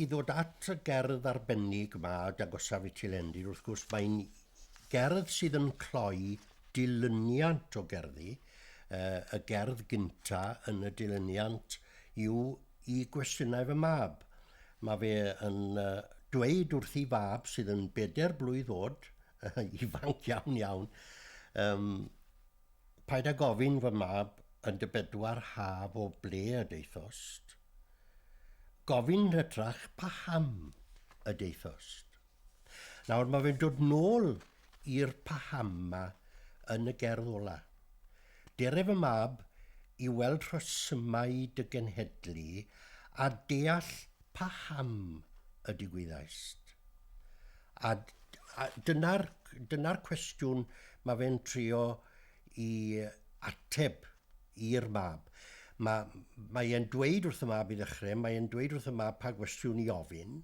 I ddod at y gerdd arbennig 'ma, Dagosa Vitilendi, wrth gwrs, mae'n gerdd sydd yn cloi dilyniant o gerddi. Y gerdd gynta yn y dilyniant yw i gwestiynau fy mab. Mae fe yn dweud wrth ei fab sydd yn bedair blwydd oed, ifanc iawn iawn, um, paid â gofyn fy mab yn dy bedwar haf o ble y daethost, Gofyn hytrach paham y daethost. Nawr mae fe'n dod nôl i'r paham 'ma yn y gerdd ola. Dere fy mab i weld rhesymau dy genhedlu a deall paham y digwyddaist. A a dyna'r dyna'r cwestiwn mae fe'n trio 'i ateb. i'r mab. Ma, mae e'n dweud wrth y mab i ddechrau, mae e'n dweud wrth y mab pa gwestiwn i ofyn.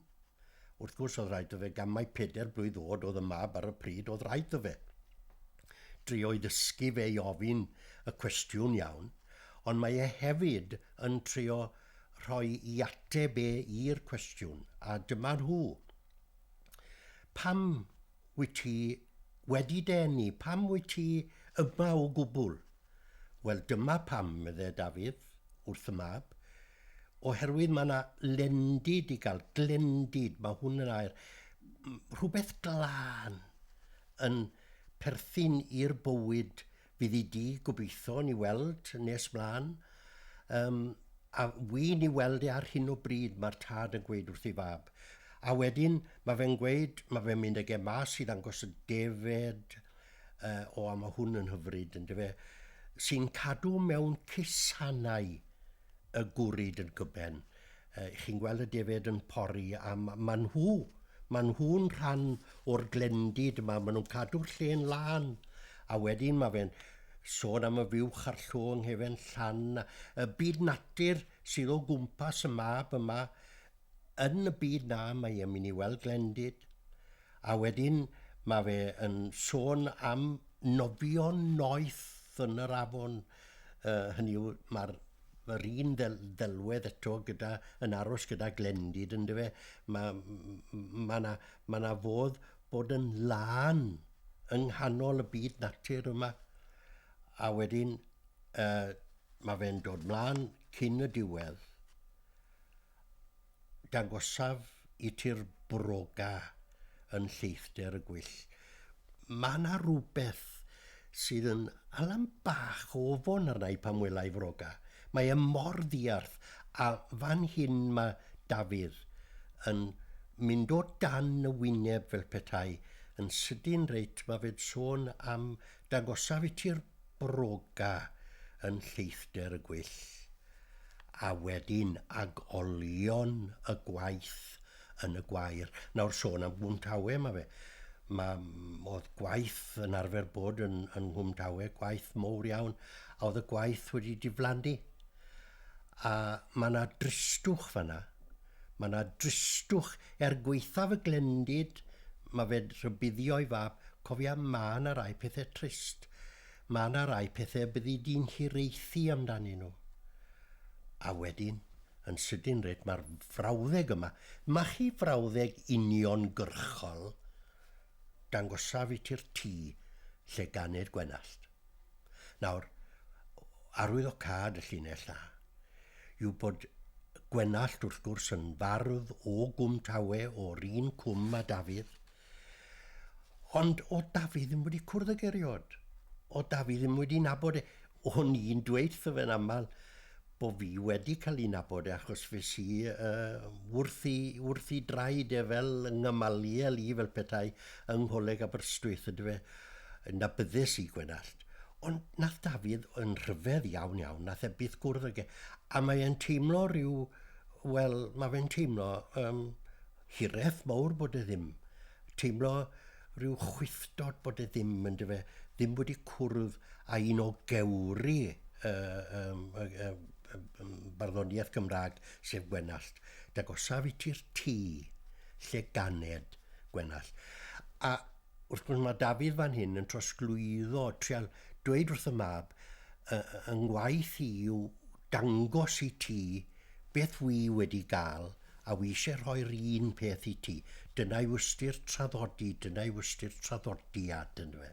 Wrth gwrs oedd rhaid o fe, gan mai peder blwydd oed oedd y mab ar y pryd, oedd rhaid o fe drio i ddysgu fe i ofyn y cwestiwn iawn, ond mae e hefyd yn trio rhoi i ateb e i'r cwestiwn, a dyma nhw. Pam wyt ti wedi denu? Pam wyt ti yma o gwbl? Wel, dyma pam, medde Dafydd wrth y mab, oherwydd mae 'na lendid i gael, glendid, mae hwn yn air, rhywbeth glân yn perthyn i'r bywyd fydd i di, gobeithio, ni weld nes mlaen. Um, a wy'n ni weld e ar hyn o bryd, mae'r tad yn gweud wrth ei fab. A wedyn, mae fe'n gweud, mae fe'n mynd ag e mas i ddangos y defed, Uh, o, a mae hwn yn hyfryd, yn dyfe, sy'n cadw mewn cusannau y gwryd yn gyben. Uh, chi'n gweld y defed yn pori, a mae nhw, mae nhw'n rhan o'r glendid yma, maen nhw'n cadw'r lle'n lân. A wedyn mae fe'n sôn am y fiwch a'r llo yng nghefen llan, y byd natur sydd o gwmpas y mab yma, Yn y byd na mae e'n mynd i weld glendid a wedyn ma fe yn sôn am nofio noeth yn yr afon yy hynny yw ma'r yr un ddel- ddelwedd eto gyda yn aros gyda glendid ynde fe ma' ma' 'na ma' 'na fodd bod yn lân yng nghanol y byd natur yma a wedyn yy ma' fe'n dod mlan cyn y diwedd Dangosaf i ti'r broga yn lleithder y gwyll. Mae yna rywbeth sydd yn alam bach o ofon arna i pan wela i froga. Mae e mor ddiarth, a fan hyn mae Dafydd yn mynd o dan y wyneb fel petai yn sydyn reit, mae fe'n sôn am Dangosaf i ti'r broga yn lleithder y gwyll, a wedyn ag olion y gwaith yn y gwair. Nawr sôn am Gwm Tawe, ma' fe. Ma'... o'dd gwaith yn arfer bod yn yn Nghwm Tawe, gwaith mowr iawn, a o'dd y gwaith wedi diflannu. A ma' 'na dristwch fan 'na, Mae 'na dristwch er gwaethaf y glendid, mae fe'n rhybuddio'i fab, cofia mae 'na rai pethe trist, mae 'na rai pethe y byddi di'n hiraethu amdanyn nhw. A wedyn, yn sydyn reit, mae'r frawddeg yma, machu frawddeg uniongyrchol, dangosaf i ti'r tŷ lle ganed Gwenallt. Nawr, arwyddocâd y llinell A yw bod Gwenallt, wrth gwrs, yn fardd o Gwm Tawe, o'r un cwm a Dafydd. Ond o Dafydd ddim wedi cwrdd y geriod. O Dafydd ddim wedi nabod e. O'n i'n dweud wrtho fe'n aml bo fi wedi cael ei nabod e achos fes i uh, wrth, i, wrth i draed e fel yng ngymaliel i fel petai yng ngholeg Aberystwyth ydy fe na byddus i Gwenallt ond nath Dafydd yn rhyfedd iawn iawn nath e byth gwrdd ag e a mae e'n teimlo rhyw wel mae fe'n teimlo um, hireth mawr bod e ddim teimlo Rhyw chwifftod bod e ddim, yn dy fe, ddim wedi cwrdd â un o gewri y, y, y, y, y barddoniaeth Gymraeg, sef Gwenallt. Dagosaf i ti'r tŷ lle ganed Gwenallt. A wrth gwrs mae Dafydd fan hyn yn trosglwyddo, trial dweud wrth y mab, yng ngwaith i yw dangos i ti beth wy wedi gael A wi isie rhoi'r un peth i ti. Dyna yw ystyr traddodi, dyna yw ystyr traddodi, a dyna fe.